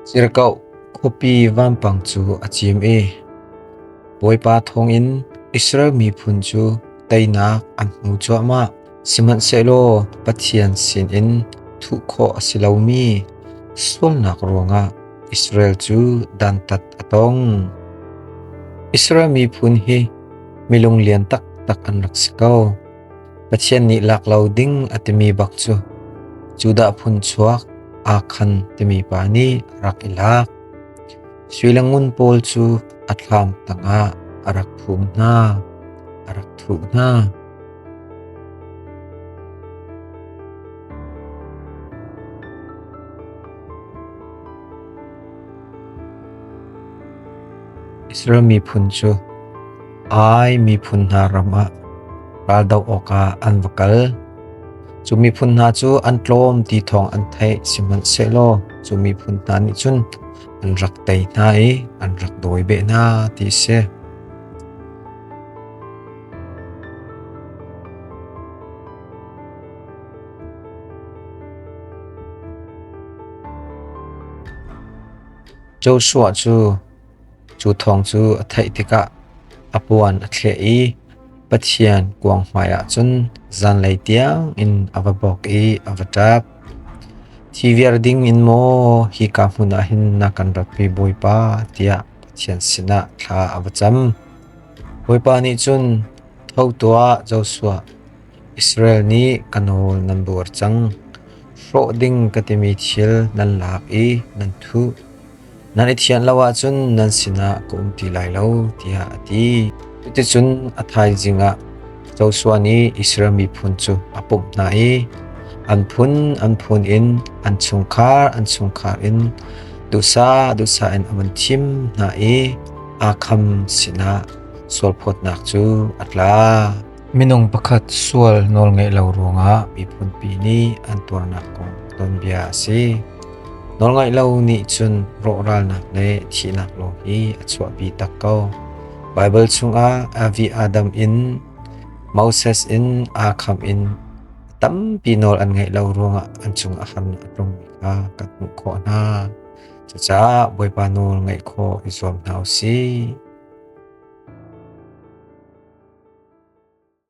Cirkoh khuapi vampang cu a cim i Bawipa thawngin Israel miphun cu teinak an hmu cuahmah. Sihmanhsehlaw Pathian sinin thuh khawh a si lomi sualnak ruangah Israel cu dantat a tong. Israel miphun hi milung lian taktak an rak si ko. Pathian nih lak lo ding a timi bak cu Judah phun chuak akhan timi pa nih rak i lak. Suilangun pawl cu a thlam tangah a rak phum hna, a rak thu hna. Israel miphun cu Ai miphun hna ram ah raldoh awkah an va kal. Cu miphun hna cu an tlawm ti thawng an theih, sihmanhsehlaw cu miphun hna nih cun an rak tei hna i an rak dawi beh hna, ti a si. Joshua cu cu thawng cu a theih tikah a puan a thleh i Pathian kuang hmaiah cun zanlei tiangin a va bawk i a va ṭap. Thi viar ding in maw hika hmun ah hin na kan ratmi Bawipa tiah Pathian sinah thla a va cam. Bawipa nih cun, Tho tuah, Joshua! Israel nih ka nawl nan buar cang. Hrawh ding ka timi thil nan lak i nan thuh. Nan i thianh lo ahcun nan sinah ka um ti lai lo, tiah a ti. Cuticun a thaizing ah Joshua nih Israel miphun cu a pumh hna i an phun an phun in an chungkhar an chungkhar in duhsah duhsah in a vun thim hna i aa kham sinah sualphawtnak cu a tla. Minung pakhat sual nawl ngeih lo ruangah miphunpi nih an tuarnak kong tonbia a si. Nawlngaih lo nih cun rawhralnak le thihnak lawng hi a chuahpi tak ko. Baibal chungah Avi Adam in Moses in aa kham in tampi nawl an ngeih lo ruangah an cung a han a tlungmi kha kan hmuh khawh hna. Cucaah Bawipa nawl ngaih khawh i zuam hna u sih.